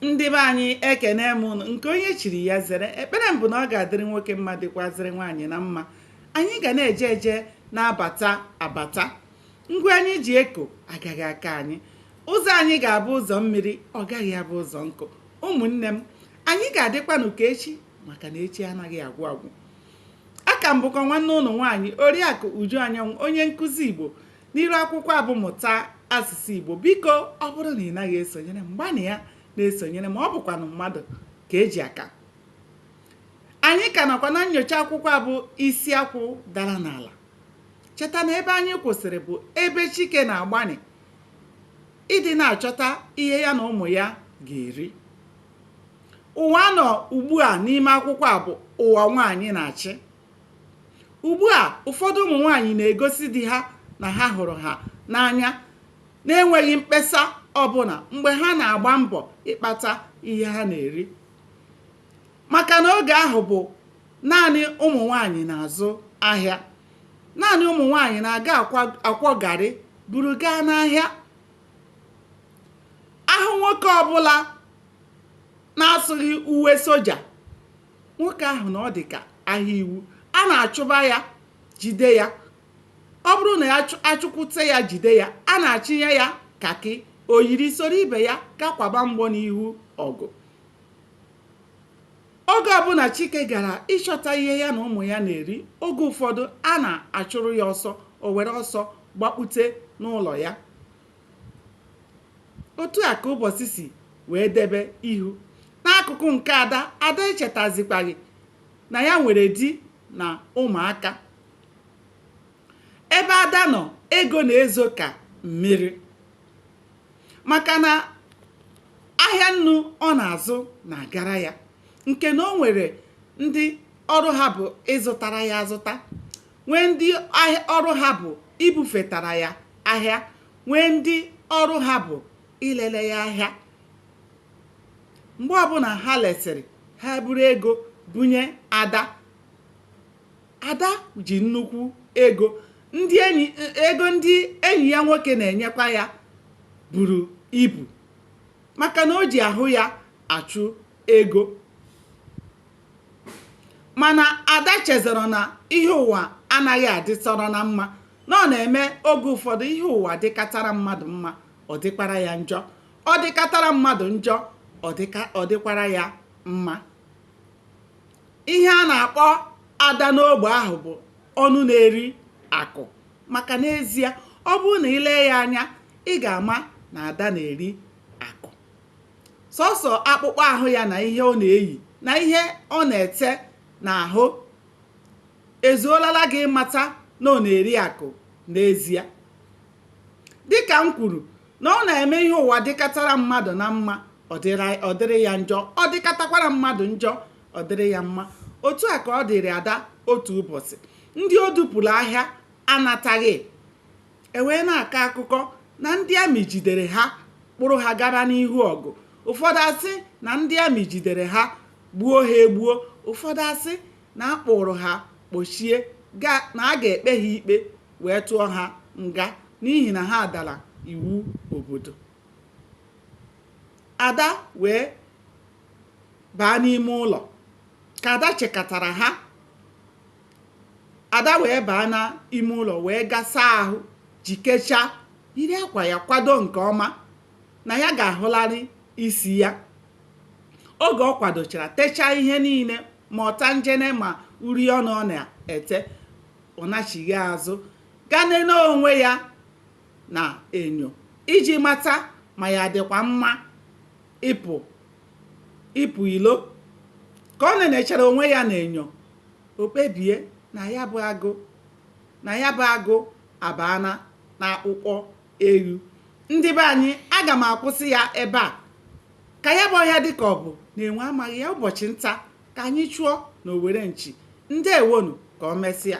ndị be anyị ekenee m ụnụ nke onye chiri ya zere ekpere m bụ na ọ ga-adịrị nwoke mma dịkwazịrị nwaanyị na mma anyị ga na-eje eje na-abata abata ngwa anyị ji eko agaghị akọ anyị ụzọ anyị ga-abụ ụzọ mmiri ọ gaghị abụ ụzọ nkụ ụmụnne m anyị ga-adịkwanụ ka echi maka na echi anaghị agwụ agwụ aka m bụkwa nwanne ụnụ nwaanyị oriakụ uju anyanwụ onye nkụzi igbo n'iru akwụkwọ a bụ mụta asụsụ Igbo biko ọ bụrụ na ị naghị esonyere m gbanịa na-esonyere m ọ bụkwanụ mmadụ ka e ji aka anyị ka nọkwa na nyocha akwụkwọ a bụ isi akwụ dara n'ala cheta na ebe anyị kwụsịrị bụ ebe Chike na-agbanị ịdị na-achọta ihe ya na ụmụ ya ga-eri ụwa a nọ ugbu a n'ime akwụkwọ a bụ ụwa nwaanyị na-achị Ugbu a, ụfọdụ ụmụ nwanyị na-egosi di ha na ha hụrụ ha n'anya na-enweghị mkpesa ọ bụla mgbe ha na-agba mbọ ịkpata ihe ha na-eri. Maka na oge ahụ bụ naanị ụmụ nwanyị na-azụ ahịa. Naanị ụmụ nwanyị na-aga akwọ garị buru gaa n'ahịa. A hụ nwoke ọbụla na-asụghị uwe soja nwoke ahụ na ọ dị ka ahịa iwu a na-achụba ya jide ya ọ bụrụ na ya achụkwute ya jide ya a na-achịnye ya kakị o yiri soro ibe ya gaa kwaba mgbọ n'ihu ọgụ oge ọbụla chike gara ịchọta ihe ya na ụmụ ya na-eri oge ụfọdụ a na-achụrụ ya ọsọ o were ọsọ gbakpute n'ụlọ ya otu a ka ụbọsị si wee debe ihu n'akụkụ nke ada ada echetazikwaghị na ya nwere di na ụmụaka ebe ada nọ ego na-ezo ka mmiri maka na ahịa nnu ọ na-azụ na-agara ya nke na o nwere ndị ọrụ ha bụ ịzụtara ya azụta nwee ndị ọrụ ha bụ ibufetara ya ahịa nwee ndị ọrụ ha bụ ilele ya ahịa mgbe ọbụla ha lesịrị ha buru ego bunye ada ada ji nnukwu ego ego ndị enyi ya nwoke na-enyekwa ya buru ibu maka na o ji ahụ ya achụ ego mana Ada chezọrọ na ihe ụwa anaghị adịtọrọ na mma na ọ na-eme oge ụfọdụ ihe ụwa dịkatara mmadụ mma ọ dịkwara ya njọ ọ dịkatara mmadụ njọ ọ dịkwara ya mma ihe a na-akpọ ada n'ogbe ahụ bụ ọnụ na-eri akụ maka n'ezie ọ bụrụ na i lee ya anya ị ga-ama na ada na-eri sọsọ akpụkpọ ahụ ya na ihe ọ na-eyi na ihe ọ na-ete n'ahụ ezuolala gị ịmata na ọ na-eri akụ n'ezie. Dị ka m kwuru na ọ na-eme ihe ụwa dịkatara mmadụ na mma ọ dịrị ya njọ, ọ dịkatakwara mmadụ njọ ọ dịrị ya mma. Otu a ka ọ dịịrị Ada otu ụbọchị. Ndị o dupụrụ ahịa anataghị. e wee na-akọ akụkọ na ndị amị jidere ha kpụrụ ha gaba n'ihu ọgụ ụfọdụ asị na ndị amị jidere ha gbuo ha egbuo ụfọdụ asị na a kpụrụ ha kpochie na a ga-ekpe ha ikpe wee tụọ ha nga n'ihi na ha dara iwu obodo ada wee baa n'ime ụlọ ka ada chekatara ha ada wee baa na ime ụlọ wee ga saa ahụ jikechaa yiri akwa ya kwado nke ọma na ya ga-ahụlarị isi ya oge ọ kwadochara techaa ihe niile ma ọtanjene ma uri ọnụ ọ na-ete ọ nachigha azụ gaa nene onwe ya na enyo iji mata ma ya dịkwa mma ịpụ ilo ka o nenechara onwe ya na enyo o kpebie na ya bụ agụ abaana n'akpụkpọ eghu. Ndị be anyị, aga m akwụsị ya ebe a. Ka ya bụ ọhịa dị ka ọ bụ na enwe amaghị ya, ụbọchị nta ka anyị chụọ na owere nchi. Ndewonu, ka o mesịa.